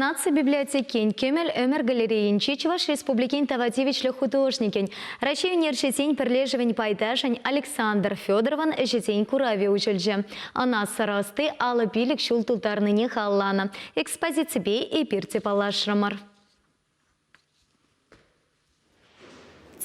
Наци библиотекин Кӗмӗл ӗмӗр галерейинчи Чӑваш Республикин тава тивӗҫлӗ художникӗн, Раҫҫей ӳнерҫисен пӗрлешӗвӗн пайташӗн Александр Федоровӑн ӗҫӗсен куравӗ уҫӑлчӗ. Ӑна сӑр ӑсти алӑ пилӗк ҫул тултарнине халланӑ экспозиципе эпир те паллашрӑмӑр.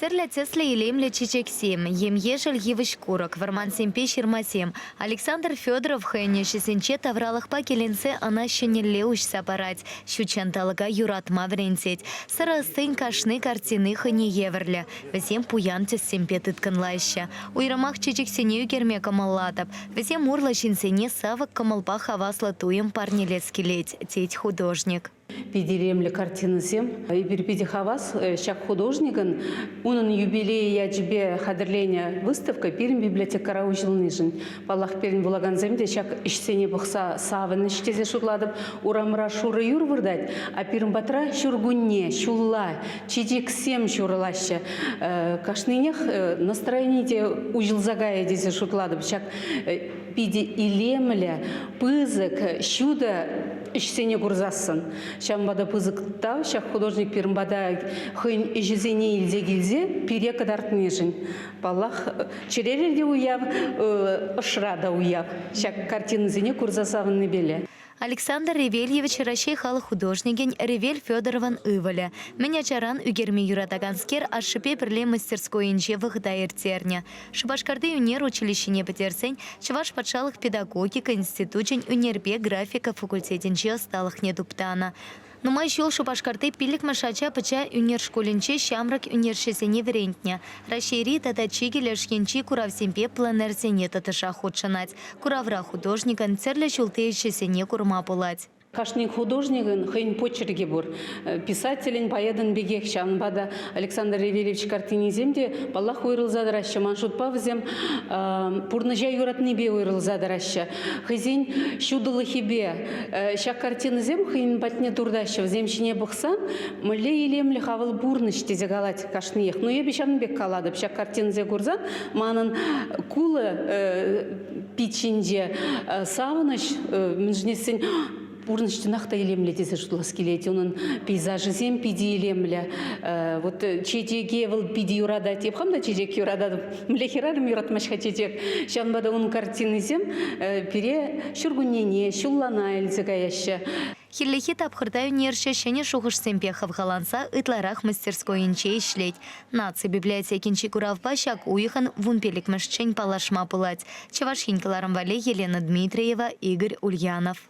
Тӗрлӗ тӗслӗ илемлӗ чечексем, ем-ешӗл йывӑҫ-курӑк, вӑрмансемпе ҫырмасем. Александр Федоров хӑйӗн ӗҫӗсенче тавралӑхпа киленсе ӑна ҫӗнӗлле уҫса парать, ҫут ҫанталӑка юратма вӗрентет. Сӑрӑ ӑстин кашни картини хӑйне евӗрлӗ. Вӗсем пуян тӗссемпе тыткӑнлаҫҫӗ. Уйрӑмах чечексене ӳкерме кӑмӑллатӑп. Вӗсем урлӑ ҫынсене савӑк кӑмӑлпа хаваслӑ туйӑм парнелес килет, тет художник. Питӗ илемлӗ картинӑсем. Эпир питӗ хавас ҫак художникӑн. Унӑн юбилейӗ ячӗпе хатӗрленӗ выставка пирӗн библиотекӑра уҫӑлнишӗн. Паллах, пирӗн вулакансем те ҫак ӗҫсене пӑхса савӑнӗҫ тесе шутлатӑп. Урамра шурӑ юр выртать, а пирӗн патра ҫуркунне, ҫулла чечексем ҫурӑлаҫҫӗ. Кашнинех настроени те уҫӑлса кайӗ тесе шутлатӑп. Ҫак питӗ илемлӗ, пысӑк, ҫутӑ ӗҫсене курсассӑн. Ҫавӑнпа та пысӑк тав ҫак художник пирӗн пата хӑйӗн ӗҫӗсене илсе килсе пире кӑтартнишӗн. Паллах, чӗререн те уяв, ӑшра та уяв. Ҫак картинӑсене курса савӑннипеле. Александр Ревельевич Раҫҫей халӑх художникӗн Ревель Федоровӑн ывӑлӗ. Мӗн ачаран ӳкерме юратаканскер ашшӗпе пӗрле мастерскойӗнче вӑхӑта ирттернӗ. Шупашкарти ӳнер училищине пӗтерсен Чӑваш патшалӑх педагогика институчӗн ӳнерпе графика факультетӗнче ӑсталӑхне туптанӑ. Нумай ҫул Шупашкарти пиллӗкмӗш ача пӑча ӳнер шкулӗнче ҫамрӑк ӳнерҫӗсене вӗрентнӗ. Раҫҫейри тата чикӗ леш енчи куравсемпе пленэрсене тӑтӑшах хутшӑнать. Куравра художникӑн тӗрлӗ ҫулти ӗҫӗсене курма пулать. Кашни художникӑн хӑйӗн почеркӗ пур. Писателӗн, поэтӑн пекех. Ҫавӑнпа та Александр Ревелевич картинисем те, паллах, уйрӑлса тӑраҫҫӗ. Ман шутпа, вӗсем пурнӑҫа юратнипе уйрӑлса тӑраҫҫӗ. хӑйсен ҫутӑлӑхӗпе. Э, ҫак картинӑсем хӑйӗн патне туртаҫҫӗ. Вӗсем ҫине пӑхсан мӗнле илемлӗх авал пурнӑҫ тесе калать кашниех. Ну эпӗ ҫавӑн пек калатӑп. Ҫак картинӑсем курсан манӑн кулӑ э, пит ҫинче савӑнӑҫ мӗншӗн тесен Пурнӑҫ чӑнах та илемлӗ тесе шутлас килет. Унӑн пейзажӗсем питӗ илемлӗ. Э, вот чечеке вӑл питӗ юратать. Я хам та чечек юрататӑп. Мле хӗрарӑм юратмасть-ха чечек. Ҫавӑнпа та унӑн картинисем э, пире ҫуркуннене, ҫуллана илсе каяҫҫӗ. Хӗллехи тапхӑрта ӳнерҫӗ ҫӗнӗ шухӑшсемпе хавхаланса ытларах мастерскойӗнче ӗҫлет. Наци библиотекинчи куравпа ҫак уйӑхӑн вун пиллӗкмӗшчен паллашма пулать. Чӑваш Ен кӑларӑм валли Елена Дмитриева, Игорь Ульянов.